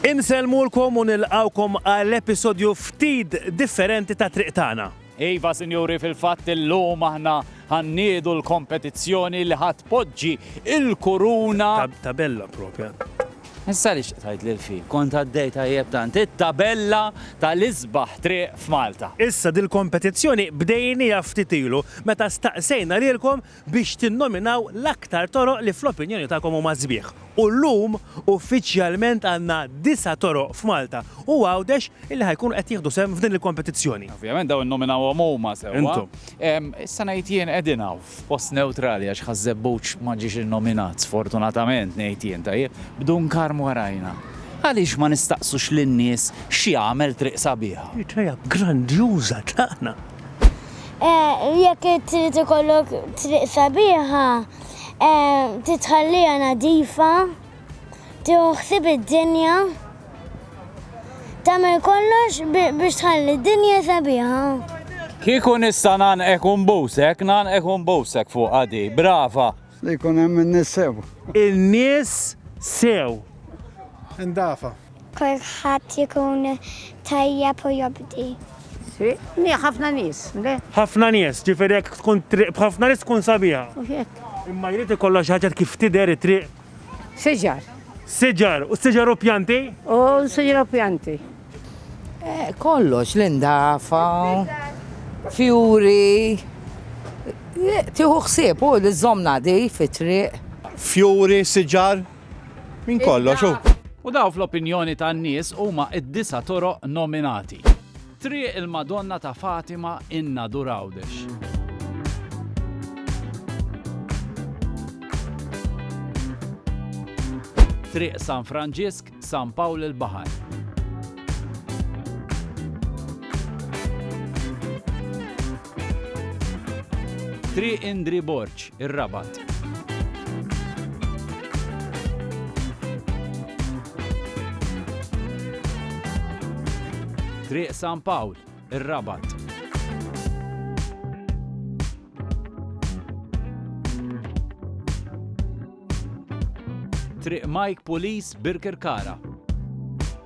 Insellmulkom u nilqgħukom għal episodju ftit differenti ta' Triq Tagħna. Iva, sinjuri, fil-fatt illum aħna ħa nniedu l-kompetizzjoni li ħa tpoġġi l-kuruna. Tabella propja. Issa li xtaqtajt li l-fi, kont għaddej tajjeb tant, it-tabella tal-isbaħ triq f'Malta. Issa dil-kompetizzjoni bdejnija ftit ilu meta staqsejna lilkom biex tinnominaw l-aktar toroq li fl-opinjoni tagħkom huma sbieħ. U llum uffiċjalment għandna disa' toroq f'Malta u Għawdex illi ħa jkunu qed jieħdu sehem f'din il-kompetizzjoni. Ovvjament dawn innominawhom huma sewwa. Intom. Issa ngħid jien qegħdin hawn f'post newtrali għax Ħaż-Żebbuġ ma ġiex innominat sfortunatament ngħid jien, tajjeb, b'Dunkarm warajna. Għaliex ma nistaqsux lin-nies x'jagħmel triq sabiħa? Idea grandjuża tagħna. Eh, jekk trid ikollok triq sabiħa, eh, titħallija nadifa, tiħsib id-dinja, tagħmel kollox biex tħalli d-dinja sabiħa. Kieku nista' nanqek un busek, nanqek un busek fuq għadi, brava. Li jkun hemm in-nies sew. In-nies sew. Indafa. Kulħadd ikun tajjeb u jobdi. Triq mija ħafna nies, le? Ħafna nies, ġifieri jekk tkun triq b'ħafna nies tkun sabiħa. U hekk. Imma jrid ikollha xi ħaġa kif tidher it-triq. Siġar. Siġar, u s-siġar hu pjanti? U s-siġar hu pjanti. Kollox, l-indafa, fjuri, tieħu ħsieb u li żżomm nagħdif it-triq. Fjuri, siġar, Minn kollox u. U daw fl-opinjoni tan-nies huma d-disa' toroq nominati. Triq il-Madonna ta' Fatima in-Nadur Għawdex. Triq San Franġisk, San Pawl il-Baħar. Triq Indri Borg, ir-Rabat. Triq San Pawl, ir-Rabat. Triq Mike Pulis, Birkirkara.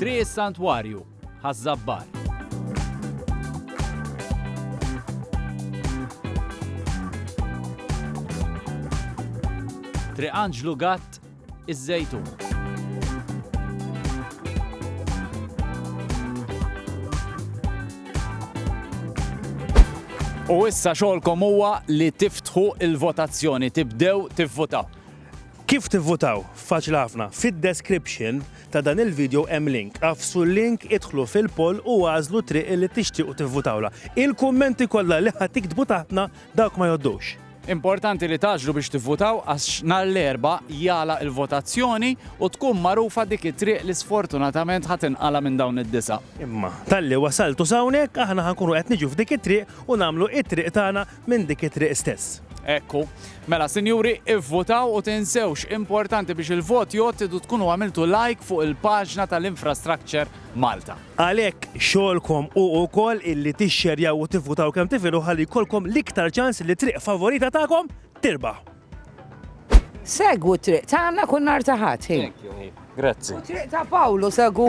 Triq is-Santwarju, Ħaż-Żabbar. Triq Anġlu Gatt, Iż-Żejtun. U issa xogħolkom huwa li tiftħu l-votazzjoni, tibdew tivvotaw. Kif tivvutaw? Faċli ħafna. Fid-description ta' dan il-video hemm link. Agħfsu l-link, idħlu fil-poll u għażlu triq li tixtiequ tivvutawla. Il-kummenti kollha li ħa tiktbu taħtna dawk ma jgħoddux. Importanti li taġlu biex tivvutaw għax nhar l-erba' jagħlaq il-votazzjoni u tkun magħrufa dik it-triq li sfortunatament ħa tinqala' minn dawn id-disa'. Imma talli wasaltu sawnek aħna ħankunu qed niġu f'dik it-triq u nagħmlu it-triq tagħna minn dik it-triq stess. Ekku. Mela, sinjuri, ivvutaw u tinsewx importanti biex il-vot jgħod idu tkunu għamiltu like fuq il-paġna tal-Infrastructure Malta. Għalhekk xogħolkom u wkoll illi tixxerjaw u tivvutaw kemm tifilu ħalli jkollkom l-iktar ċans li triq favorita tagħkom tirbaħ. Segwu triq tagħna kull nar ta' ħadd. Grazzi. Triq ta' Pawlu segwu